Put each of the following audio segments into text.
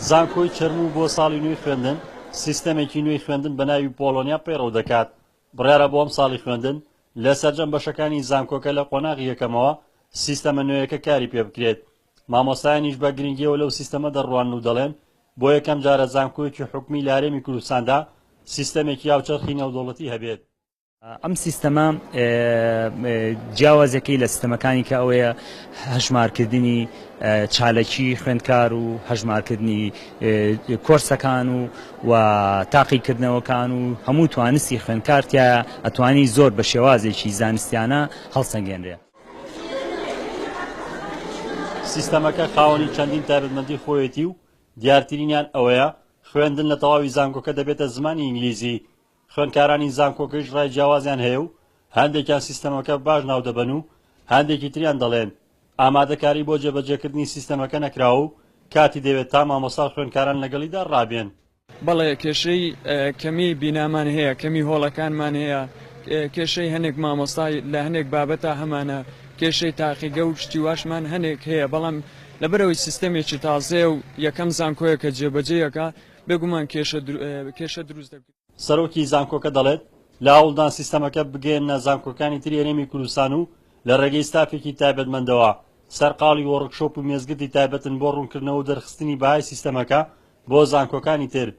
زانکۆی چەرموو بۆ ساڵی نوێی خوێندن سیستەمێکی نوێی خوێندن بە ناوی پۆلۆنیا پەیڕەو دەکات بڕیارە بۆ ئەم ساڵی خوێندن لە سەرجەم بەشەکانی زانکۆکە لە قۆناغی یەکەمەوە سیستەمە نوێیەکە کاری پێ بکرێت مامۆستایانیش بە گرنگیەوە لەو سیستەمە دەڕوان و دەڵێن بۆ یەکەم جارە زانکۆیەکی حکومی لارێمی کوردستاندا سیستەمێکی یاوچەرخی نێودەوڵەتی هەبێت ئەم سیستەمە جیاوازەکەی لە سیستەمەکانی کە ئەوەیە هەژمارکردنی چالەکی خوێندکار و هەژمارکردنی کۆرسەکان و و تاقیکردنەوەکان و هەموو توانستی خوێندکارتە ئەتوانی زۆر بە شێوازێکی زانستیانە هەڵسەنگێنرێ سیستەمەکە خاوەنی چەندین تایبەتمەندی خۆیەتی و دیارترینیان ئەوەیە خوێندن لە تەواوی زانکۆکە دەبێتە زمانی ئینگلیزی خوێندکارانی زانکۆکەیش ڕای جیاوازیان هەیە و هەندێکیان سیستەمەکە باش ناودەبەن و هەندێکی تریان دەڵێن ئامادەکاری بۆ جێبەجێکردنی سیستەمەکە نەکراوە و کاتی دەوێت تا مامۆستا و خوێندکاران لەگەڵیدا ڕابێن. بەڵێ کێشەی کەمی بینامان هەیە، کەمی هۆڵەکانمان هەیە، کێشەی هەنێک مامۆستا لە هەنێک بابەتا هەمانە، کێشەی تاقیگە و شتی واشمان هەنێک هەیە، بەڵام لەبەرئەوەی سیستەمێکی تازەیە و یەکەم زانکۆیە کە جێبەجێی ئەکا، بێگومان کێشە دروست دەبێت. سەرۆکی زانکۆکە دەڵێت، لە هەوڵدان سیستەمەکە بگەیەننە زانکۆکانی تری هەرێمی کوردستان و لە ڕێگەی ستافێکی تایبەتمەندەوە سەرقاڵی وۆڕکشۆپ و مێزگردی تایبەتن بۆ ڕوونکردنەوە و دەرخستنی بەهای سیستەمەکە بۆ زانکۆکانی تر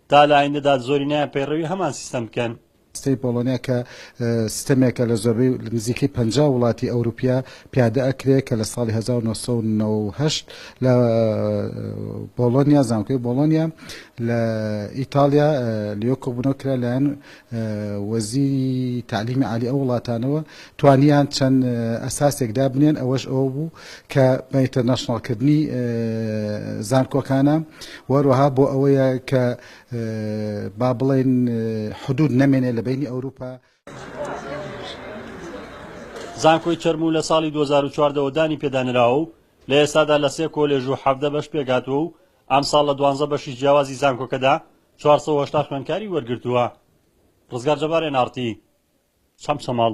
تا لە ئایندەدا زۆرینەیان پەیڕەوی هەمان سیستەم بکەن. ستەمی پۆڵۆنیا کە ستەمێکە لە زۆربەی نزیکەی پەنجا وڵاتی ئەوروپیا پیادە ئەکرێ کە لە ساڵی هەزار و نۆ سەد و نەوە و هەشت لە بۆڵۆنیا زانکۆی بۆڵۆنیا لە ئیتاڵیا لێۆ کۆبوونەوە کرا لایەن وەزیری تعلیمی عالی ئەو وڵاتانەوە توانیان چەند ئەساسێک دابنێن ئەوەش ئەوە بوو کە بە ئینتەرناشناڵکردنی زانکۆکانە وەروەها بۆ ئەوەیە کە با بڵێین حدود نەمێنێ لە بینی ئەوروپا. زانکۆی چەرموو لە ساڵی دوو هەزار و چواردە وە دانی پێدا نراوە و لە ئێستادا لە سێ کۆلێژ و حەڤدە بەش پێکهاتووە و ئەمساڵ لە دوانزە بەشی جیاوازی زانکۆکەدا چوار سەد و هەشتا خوێندکاری وەرگرتووە. ڕزگار جەبار، NRT، چەمچەماڵ.